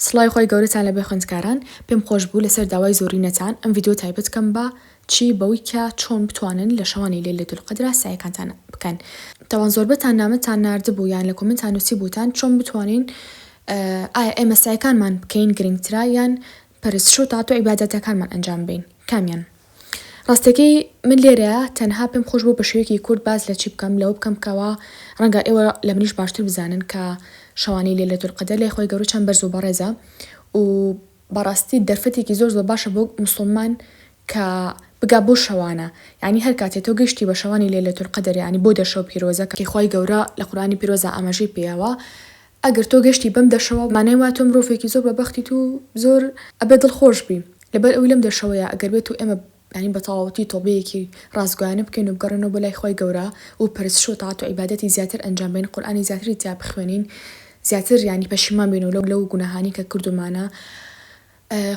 سڵاوی خوای گەورەتان لەبێ خوێندکاران پێم خۆش بوو لەسەر داوای زۆرینەتان ئەم ڤیدیۆ تایبەت کەم بە چی بەوی کە چۆن بتوانن لە شەوانی لەیلەت القەدرا سەعیەکانتان بکەن تاوان زۆربەتان نامەتان ناردبوو یان لە کۆمێنتان نوسیبوتان چۆن بتوانین ئایا ئێمە سەعیەکانمان بکەین گرنگترە یان پەرستش و تاعەت و عیبادەتەکانمان ئەنجام بەین کامیان ڕاستەکەی من لێرەیا تەنها پێم خۆش بوو بە شێوەیەکی کورت باس لە چی بکەم لەوە بکەم کەوا ڕەنگە ئێوە لە منیش باشتر بزانن کە شەوانی لەیلەت القەدەر لای خوای گەورە چەند بەرز و بەڕێزە و بەڕاستی دەرفەتێکی زۆر زۆر باشە بۆ موسڵمان کە بگا بەو شەوانە یانی هەر کاتێ تۆ گەیشتی بە شەوانی لەیلەت القەدەر یانی بۆ دە شەو پیرۆزە کە خوای گەورە لە قورئانی پیرۆزا ئاماژەی پێیاوە ئەگەر تۆ گەشتی بەم دەشەوە مانای وایە تۆ مرۆڤێکی زۆر بە بەختیت و زۆر ئەبێ دڵ خۆش بی لەبەر ئەوی لەم دەشەوەیە ئەگەر بێت و ئێمە یانی بە تەواوەتی تۆبەیەکی ڕاستگۆیانە بکەین و بگەڕێنەوە بۆ لای خوای گەورە و پەرستش و تاعەت و عیبادەتی زیاتر ئەنجام بەین قورئانی زیاتری تیا بخوێنین زیاتر یانی پەشیمان بین و لەو گوناهانەی کە کردومانە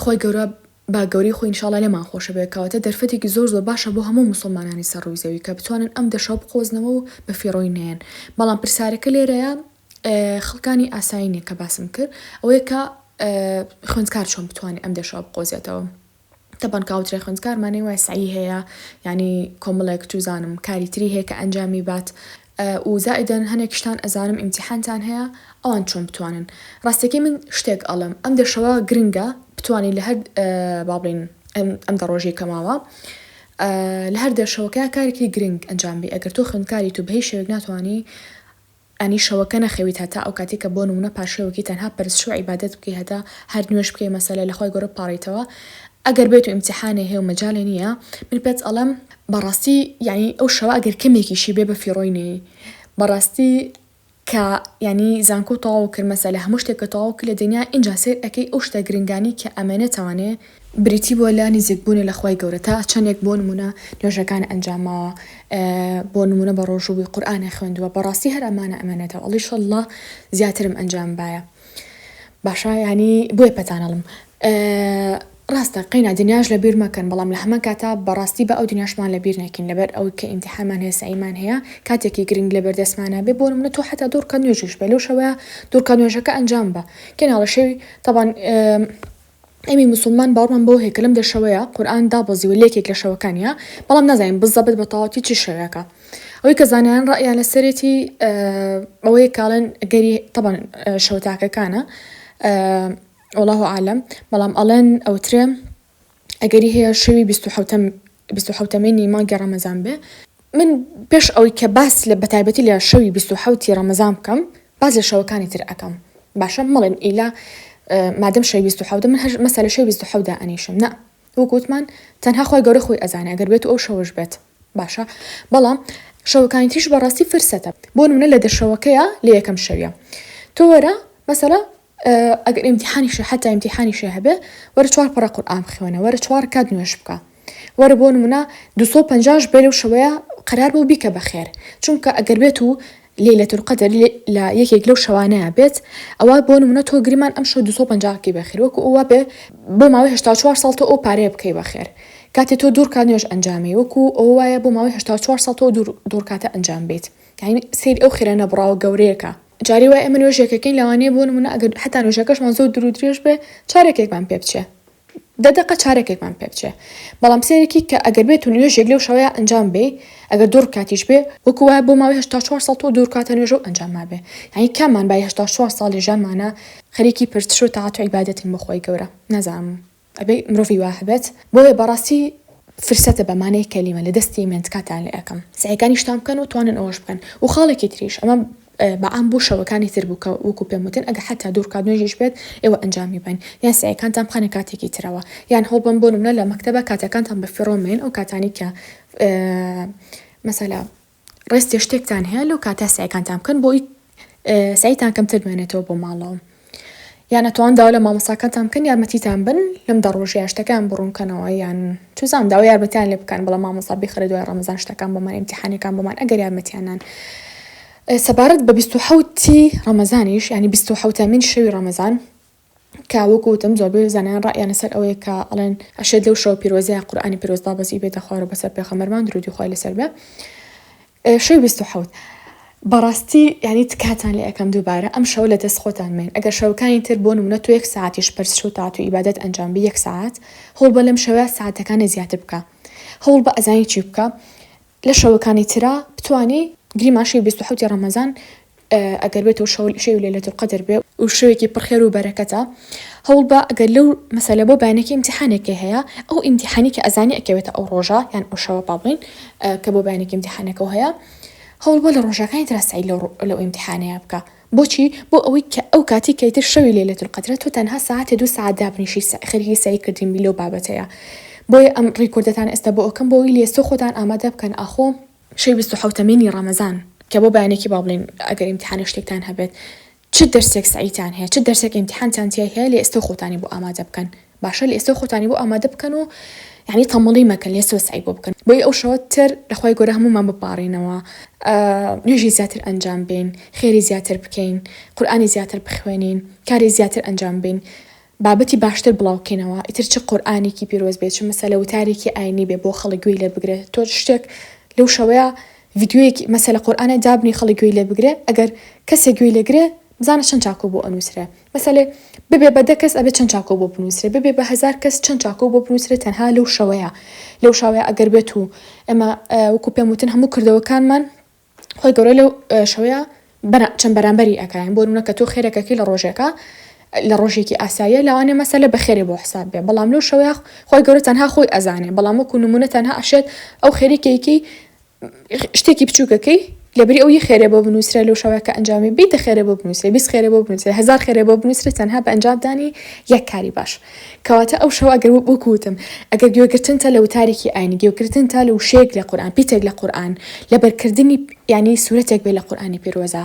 خوای گەورە با گەورەی خۆی ان شاء اللە لێمان خۆش بێت کەواتە دەرفەتێکی زۆر زۆر باشە بۆ هەموو موسڵمانانی سەر ڕووی زەوی کە بتوانن ئەم دەشەوە بقۆزنەوە و بە فیڕۆی نەیەن بەڵام پرسیارەکە لێرەیە خڵکانی ئاسایی نیە کە باسم کرد ئەوەیە کە خوێندکار چۆن بتوانێت ئەم دێشەوە بقۆزێتەوە تەبەن کاوترێ خوێندکار مانەی وای سعی هەیە یعنی کۆمەڵێک توزانم کاری تری هەیە کە ئەنجامی بات و زائدەن هەنێک شتان ئەزانم ئیمتیحانتان هەیە ئەوان چۆن بتوانن ڕاستەکەی من شتێک ئەڵم ئەم دێشەوە گرنگە بتوانین لە هەر با بڵێن ئەم دە ڕۆژەی کەماوە لە هەر دێشەوەکە کارێکی گرنگ ئەنجام بی ئەگەر تۆ خوێندکاری تو بەهی شێوێک ناتوانانی ئەنی شەوەکە نەخەویت هەتا ئەوکاتەی کە بۆ نمونە پارشێوەکی تەنها پەرستشو عیبادەت بکەی هەتا هەر نوێژ بکەی مەسەلە لەخوای گەورە بپاڕیتەوە ئەگەر بێتو ئیمتیحانێ هەیە و مەجالێ نیە من پێت ئەڵێم بەڕاستی یەعنی ئەو شەوە ئەگەر کەمێکیشی بێ بە فیڕۆی نێی بەڕاستی کە یەعنی زانکۆ تەواو کرد مەسەلە هەموو شتێک کە تەواو کرد لە دنیا ئینجا سەیر ئەکەی ئەو شتە گرنگانەی کە ئەمەێنێتەوانێ بریتی بووە لە نزیک بوونە لە خوای گەورە تا چەندێک بۆ نموونە نوێژەکان ئەنجام ماوە بۆ نموونە بە ڕۆژوو بووی قورئان ئەخوێندووە بەڕاستی هەر ئەمانە ئەمێنێتەوە ئەڵی شەڵڵا زیاترم ئەنجام بایە باشە ینی بۆیە پەتانەڵم ڕاستە قەینا دنیاش لە بیر مەکەن بەڵام لە هەمە کاتا بەڕاستی بە ئەو دنیاشمان لە بیر نەکەین لەبەر ئەو کە ئیمتحامان هەیە سەعیمان هەیە کاتێکی گرنگ لە بەردەستمانە بێ بۆ منە تۆ حتا دوورکە نوێژش بێ لەو شەوەیە دوورکە نوێژەکە ئەنجام بە کێناڵە شەوی تەبان ئێمەی موسوڵمان باوەڕمان بەوە هەیە کە لەم دە شەوەیە قورئان دابەزیوە لە یەکێک لە شەوەکانیا بەڵام نازانین بزەبت بە تەواوەتی چ شەوێکە ئەوەی کە زانایان ڕەئیان لەسەرێتی ئەوەیە کاڵێن گەری تەبەن شەو تاکەکانە واللە اعلم بەڵام ئەڵێن ئەوترێ ئەگەری هەیە شەوی بیست و حەوتەم بیست و حەوت مینی مانگی ڕەمەزان بێ من پێش ئەوەی کە باس لە بەتایبەتی لە شەوی بیست و حەوتی ڕەمەزان بکەم باس لە شەوەکانی تر ئەکەم باشە مەڵێن ئیلا مادەم شەوی بیست و حەوتە من هەر مەسەلە شەوی بیست و حەوت دائەنیشم نا وەک وتمان تەنها خۆی گەورە خۆی ئەزانێ ئەگەر بێت و ئەو شەوەش بێت باشە بەڵام شەوەکانی تریش بەڕاستی فرسەتە بۆ نمونە لە دەشەوەکەیە لە یەکەم شەویە تۆ وەرە مەسەلە ئەگەر ئیمتیحانیشە حتا ئیمتیحانیشە هەبێ وەرە چوار پەڕە قورئان بخوێنە وەرە چوار کات نوێژ بکە وەرە بۆ نمونە 250 بێ لەو شەوەیە قەرار بۆ بیکە بەخێر چونکە ئەگەر بێت و لەیلەت القەدر لە یەکێک لەو شەوانەیە بێت ئەوە بۆ نمونە تۆ گریمان ئەم شەو 250 کی بەخێر وەکو ئەوە بێ بۆ ماوەی 84 ساڵ تۆ ئەو پارەیە بکەی بەخێر کاتێ تۆ دوور کات نوێژ ئەنجامی وەکو ئەوە وایە بۆ ماوەی 84 ساڵ تۆ دوور دوور کاتە ئەنجام بیت یعنی سەیری ئەو خێرانە بڕاوە گەورەیەکە جاری وایە ئێمە نوێژێکەکەین لەوانەیە بۆ نمونە ئەگەر حتا نوێژەکەشمان زۆر درو درێژ بێ چارەکێکمان پێ بچێ دە دقە چارەکێکمان پێ بچێ بەڵام سێرەکی کە ئەگەر بێت و نوێژێک لەو شەوەیە ئەنجام بێ ئەگەر دوو ڕکاتیش بێ وەکو وایە بۆ ماوەی هەشتا چوار ساڵ تۆ دوو ڕکاتە نوێژە و ئەنجام مابێ یانی کاممان بای هەشتا چوار ساڵی ژیانمانە خەریکی پرسش و تاعەت و عیبادەتین بۆ خوای گەورە نازانم ئەبێ مرۆڤی وا هەبێت بۆیە بەڕاستی فرسەتە بە مانای کەلیمە لە دەستی من تکاتان لێ ئەکەم سەعیەکانیشتان بکەن و توانن ئەوەش بکەن و خاڵێکی تریش ئەمە بە عام بۆ شەوەکانی تر بوو کە وەکو پێم وتن ئەگەر حەتا دوو رکات نوێژیش بێت ئێوە ئەنجامی بەن یان سەعیەکانتان بخەنە کاتێکی ترەوە یان هەوڵبەن بۆ نمونە لە مەکتەبە کاتەکانتان بە فیڕۆ مەیەن ئەو کاتانەی کە مەسەلا ڕێستێ شتێکتان هەیە لەو کاتە سعیکانتان بکەن بۆی سعیتان کەمتر بمێنێتەوە بۆ ماڵەوە یان ئەتوان داوا لە مامۆساکانتان بکەن یارمەتیتان بن لەم دە ڕۆژەیە شتەکان بڕونکەنەوە یان چزان داوا یارمەتیان لێ بکەن بەڵام مامۆسا بخرە دوای ڕەمەزان شتەکان بۆمان امتحانەکان بۆمان ئەگەر یارمەتیانان سەبارەت بە 1970 ڕەمەزانیش ینی 1970 من شەوی ڕەمەزان کە وەکو وتم زۆربەی زانایان ڕائیانە سەر ئەوەیە کە ئەڵێن ئەشێت لەو شەو پیرۆزەیە قورآانی پیرۆز دابەزی بێتە خوارەوە بەسەر پێخەمەرمان درودی خوای لەسەر بێ شەوی 27 بەڕاستی ینی تکاتان لە ئەەکەم دووبارە ئەم شەو لە دەست خۆتان من ئەگەر شەوەکانی تر بۆ نمونە تو یەک ساعتیش پرس شو تاات و ئیبادەت ئەنجام بە یەک ساعت هەوڵ بە لەم شەوە ساعتەکانی زیاتر بکە هەوڵ بە ئەزانی چی بکە لە شەوەکانی ترا بتوانی گریمان شەوی بیست و حەوتی ڕەمەزان ئەگەر بێتو شەو شەوی لەیلەت القدر بێ و شەوێکی پڕ خێرو بەرەکەتە هەوڵ بە ئەگەر لەو مەسەلە بۆ بەیانێکی ئیمتیحانێکی هەیە ئەو ئیمتیحانی کە ئەزانی ئەکەوێتە ئەو ڕۆژە یان ئەو شەوە با بڵێین کە بۆ بەیانێکی ئیمتیحانەکەو هەیە هەوڵ بە لە ڕۆژەکانی ترا سەعی لەو ئیمتیحانەیە بکە بۆچی؟ بۆ ئەوەی کە ئەو کاتی کە ئیتر شەوی لەیلەتول قەدرە تۆ تەنها سەعاتێ دوو سەعات دابنیشی سە خەریکی سەعی کردن بی لەو بابەتەیا بۆیە ئەم ریکۆردەتان ئێستا بۆ ئەکەم بۆ ئەوەی لێستۆ خۆتان ئامادە بکەن ئاخۆ شەوی بیست و حەوتەمینی رەمەزان کە بۆ بەیانێکی با بڵێین ئەگەر ئیمتیحانێ شتێکتان هەبێت چ دەرسێک سەعیتان هەیە چ دەرسێک ئیمتیحانتان تیای هەیە لێستۆ خۆتانی بۆ ئامادە بکەن باشە لەئێستەوە خۆتانی بۆ ئامادە بکەن و یانی تەمەڵی مەکەن لەئێستەوە سەعی بۆ بکەن بۆی ئەو شەوە تر لەخوای گەورە هەموومان بپاڕێنەوە نوێژی زیاتر ئەنجام بین خێری زیاتر بکەین قورئانی زیاتر بخوێنین کاری زیاتر ئەنجام بین بابەتی باشتر بڵاوکەینەوە ئیتر چ قورئانێکی پیرۆز بێت چ مەسەلە وتارێکی ئاینی بێ بۆ خەڵک گوێی لێ بگرێت تۆ شتێک لەو شەوەیە ڤیدیۆیەکی مەسەلە قورئانە دابنی خەڵک گوێی لێ بگرێ ئەگەر کەسێک گوێی لێگرێ بزانە چەند چاکۆ بۆ ئەنوسرێ مەسەلەی ببێ بە دە کەس ئەبێ چەند چاکۆ بۆ بنوسرێ ببێ بە هەزار کەس چەند چاکۆ بۆ بنوسرێ تەنها لەو شەوەیە لەو شاوەیە ئەگەر بێت و ئێمە وەکو پێم وتن هەموو کردەوەکانمان خۆی گەورە لەو شەوەیە بەرە چەند بەرامبەری ئەکراین بۆ نمونە کە تۆ خێرەکەکی لە ڕۆژێکە لە ڕۆژێکی ئاساییە لەوانێ مەسەلە بە خێرێ بۆ حساب بێ بەڵام لەو شەوەیە خۆی گەورە تەنها خۆی ئەزانێ بەڵام وەکو نمونە تەنها ئەشێت ئەو خێریکێکی شتێکی بچووکەکەی لەبری ئەو یە خێرێ بۆ بنووسرە لەو شەوەکە ئەنجامی بیتە خێرێ بۆ بنووسێ بیست خێرێ بۆ بنووسێ هزار خێرێ بۆ بنووسرە تەنها بە ئەنجامدانی یەک کاری باش کەواتە ئەو شەوە گەر بکوتم ئەگەر گوێگرتن تا لە وتارێکی ئاینی گوێگرتن تا لە وشەیەک لە قورآن پیتێک لە قورآن لەبەرکردنی ینی سوورەتێک بێ لە قورآانی پیرۆزە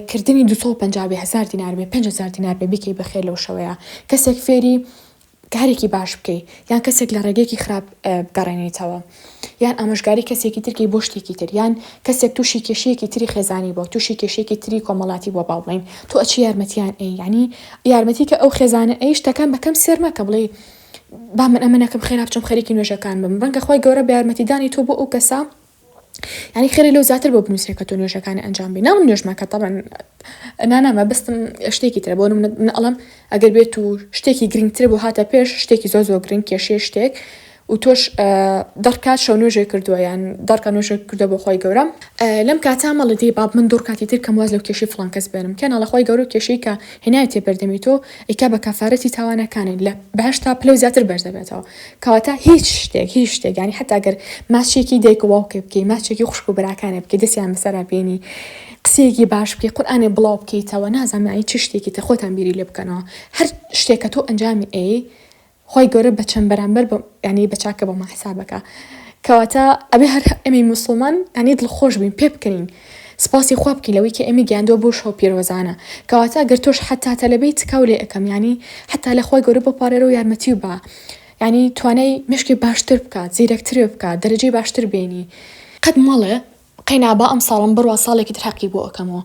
کردنی 250 هزار دینار بێ 500 دینار بێ بکەی بەخێر لەو شەوەیە کەسێک فێری کارێکی باش بکەی یان کەسێک لە ڕێگەیەکی خراپ بگەڕێنیتەوە یان ئامۆژگاری کەسێکی تر کەی بۆ شتێکی تر یان کەسێک تووشی کێشەیەکی تری خێزانی بووە تووشی کێشەیەکی تری کۆمەڵاتی بووە با بڵێین تۆ ئەچی یارمەتیان ئەی یانی یارمەتی کە ئەو خێزانە ئەی شتەکان بە کەم سێر مەکە بڵێی با من ئەمە نەکەم خێرا بچم خەریکی نوێژەکان بم ڕەنگە خی گەورە بە یارمەتیدانی تۆ بۆ ئەو کەسە یعنی خێرە لەو زیاتر بۆ بنووسێ کە تۆ نوێژەکانی ئەنجام بی ناڵم نوێژمەکە تەبەن نانا مەبستم شتێکی ترە بۆ من ئەڵم ئەگەر بێت و شتێکی گرنگتر بۆ هاتە پێش شتێکی زۆ زۆ گرنگ کێشێ شتێک و تۆش دەڕکات شەو نوێژێ کردووە یان دەڕکە نوێژێ کردە بۆ خۆی گەورە لەم کاتا مەڵی دی باب من دوڕکاتی تر کەم واز لەو کێشی فلان کەس بێنم کێناڵە خۆی گەورە کێشی کە هێنایەتێ بەردەمی تۆ ئیکە بە کەفارەتی تاوانەکانی لە بەهەشتا پلەی زیاتر بەرز دەبێتەوە کەواتە هیچ شتێک هیچ شتێک یانی حەتا گەر ماچێکی دایک و باوکێ بکەی ماچێکی خوشک و براکانێ بکەی دەستیان بەسەرا بێنی قسەیەکی باش بکەی قورئانێ بڵاو بکەیتەوە نازانم یانی چ شتێکی تر خۆتان بیری لێ بکەنەوە هەر شتێک کە تۆ ئەنجامی ئەی خوای گەورە بە چەند بەرامبەر بە یانی بە چاکە بۆمان حساب بکا کەواتە ئەبێ هەر ئێمەی موسڵمان یانی دڵخۆش بین پێ بکەنین سپاسی خوا بکەین لەوەی کە ئێمە گیاندووە بۆ شەو پیرۆزانە کەواتە گەر تۆش حتا تەلەبەی تکاو لێ ئەکەم یانی حتا لە خوای گەورە بپارێرە و یارمەتی و با یانی توانای مشکی باشتر بکات زیرەکترێ بکات دەرەجەی باشتر بێنی قەت مەڵێ قەینا با ئەمساڵم بڕوا ساڵێکی تر هەقی بۆ ئەکەمەوە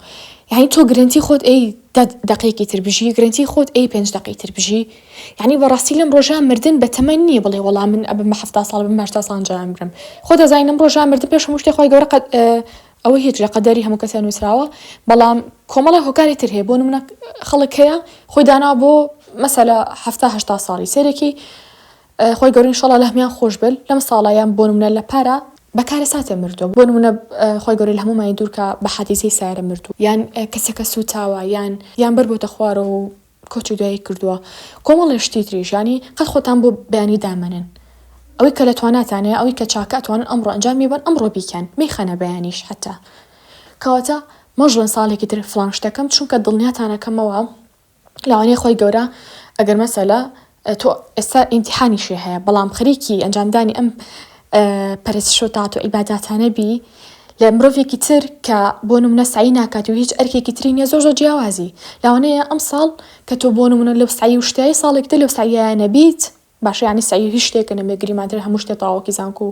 یانی تۆ گرنتی خۆت ئەی دە دەقەیەکی تر بژی گرنتی خۆت ئەی پێنج دەقەی تر بژی یانی بەڕاستی لەم ڕۆژە مردن بە تەمەن نییە بڵێ وەڵا من ئەبم بە حەفتا ساڵ بم هەشتا ساڵ جا ئەمرم خۆ دەزانی لەم ڕۆژە مردن پێش هەموو شتێ خۆی گەورە قەد ئەوە هیچ لە قەدەری هەموو کەسێ نووسراوە بەڵام کۆمەڵی هۆکاری تر هەیە بۆ نمونە خەڵک هەیە خۆی دانا بۆ مەسەلە حەفتا هەشتا ساڵی سەیرێکی خوای گەورە انشااللە لەهەموان خۆشبێل لەم ساڵە یان بۆنمونە لەپارە بەکارەساتێ مردوە بۆنمونە خوای گەورە لەهەمومانی دورکا بەحادیسەی سارە مردو یان کەسەکە سوتاوە یان یان بەر بۆتە خوارەوەو کۆچی دوایی کردوە کۆمەڵێ شتی تریش یانی قەت خۆتان بۆ بەیانی دامەنێن ئەوەی کە لەتواناتان هەیە ئەوەی کە چاکە ئەتوانن ئەمڕۆ ئەنجامی بەن ئەمڕۆ بیکەن مەیخەنە بەیانیش حەتا کەواتە مەژڵێن ساڵێکی تر فڵان شتەکەم چونکە دڵنیاتان ئەکەمەوە لەوانەیە خۆی گەورە ئەگەر مەسەلە تۆ ئێستا ئینتحانی شێ هەیە بەڵام خەریکی ئەنجامدانی ئەم پەرستشۆتات و ئیباداتانە بی لە مرۆڤێکی تر کە بۆ نمونە سعی ناکات و هیچ ئەرکێکی تری نیە زۆر زۆر جیاوازی لاوانەیە ئەم ساڵ کە تۆ بۆ نمونە لەو سعی و شتایی ساڵێکتە لەو سعیانە بیت باشە یانی سەعی هیچ شتێکە نەبێ گریمانتر هەموو شتێ تاوەکی زانکو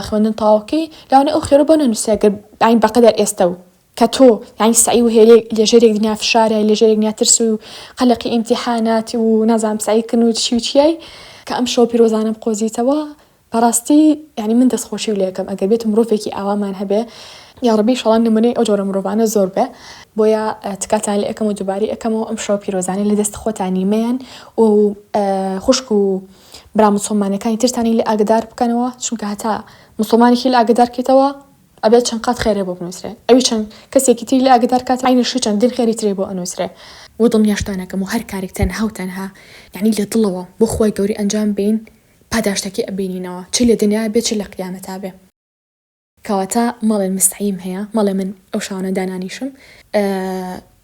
خوێندن تاوەکەی لەوانە ئەو خێرە بۆ نەنووسرا گەر ئاین بەقەدەر ئێستە و کە تۆ یانی سعی و هێرێ لێژێرێک دنیا فشارە لێژێرێک نیا ترس و قەلەقی ئیمتیحانات و نازام سعیکردن و چی و چیای کە ئەم شەو پیرۆزانم قۆزیتەوە بەڕاستی یانی من دەست خۆشی لێ ئەکەم ئەگەر بێت مرۆڤێکی ئاوامان هەبێ یاڕەبی ئیشەڵا نمونەی ئەو جۆرە مرۆڤانە زۆر بێ بۆیە تکاتان لێ ئەکەم و دووبارەی ئەکەمەوە ئەم شەو پیرۆزانەی لە دەست خۆتانی مەیەن و خوشک و برا مسلمانەکانی ترتانی لە ئاگدار بکەنەوە چونکە هەتا مسلمانێکی لە ئاگدار کەیتەوە ئەبێت چەند قات خێرێ بۆ بنووسرێ ئەوی چەند کەسێکی تری لە ئاگدار کات عینشی چەندین خێری ترێ بۆ ئەنووسرێ و دڵنیاشتانەکەم و هەر کارێک تەنها و تەنها یعنی لە دڵەوە بۆ خۆی گەوری ئەنجام بین پاداشتەکەی ئەبینینەوە چ لە دنیا بێ چ لە قیامەتا بێ. کەواتە مەڵێن مستعیم هەیە مەڵێ من ئەو شاوانە دانانیشم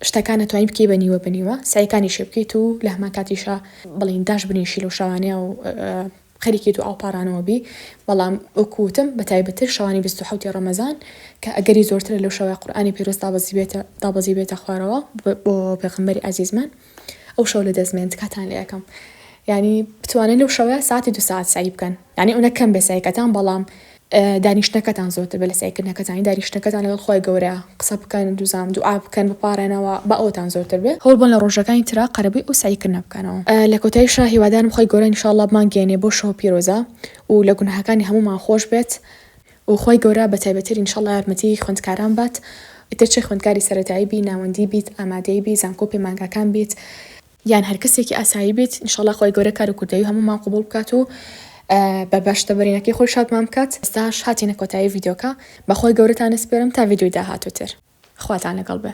شتەکان ئەتوانی بکەی بە نیوە بە نیوە سەعیکانیشی بکەیت و لە هەمان کاتیشا بڵین داش بنیشی لەو شاوانەیە و خەریکی دوعا و پاڕانەوە بی بەڵام وەکو وتم بە تایبەتتر شەوانی بیست و حەوتی ڕەمەزان کە ئەگەری زۆرترە لەو شەوەی قورئانی پیرۆز دابەزی بێتە دابەزی بێتە خوارەوە بۆ پێغەمبەری عەزیزمان ئەو شەو لەدەست مێن تکاتان لێ ئەکەم یانی بتوانن لەو شەوە ساتی دو ساعت سعی بکەن یانی ئەونە کەم بێ سعیکەتان بەڵام دانیشتنەکەتان زۆرتر بە لە سعیکردنەکەتانی دانیشتنەکەتان لەگەڵ خۆی گەورە قسە بکەن دوزام دوعا بکەن بپارێنەوە بە ئەوتان زۆرتر بێ هەوڵ بن لە ڕۆژەکانی ترا قەرەبوی ئەو سعیکردنە بکەنەوە لە کۆتایی شا هیوادارم خۆی گەورە ان شاء اللە بمانگەیەنێ بۆ شەوە پیرۆزە و لە گوناهەکانی هەمومان خۆش بێت و خوای گەورە بە تایبەتر ان شاءاللە یارمەتی خوێندکاران بات ئیتر چ خوێندکاری سەرەتایی بی ناوەندی بیت ئامادەی بی زانکۆ و پەیمانگاکان بیت یان هەر کەسێکی ئاسایی بیت ان شاءاللە خوای گەورە کار و کوردەوی هەموومان قبوڵ بکات و بە بەشتە بەرینەکەی خۆی شادمان بکات ئێستاش هاتینە کۆتایی ڤیدیۆکە بە خوای گەورەتان ئەسپێرم تا ڤیدیۆی داهاتووتر خواتان لەگەڵ بێ.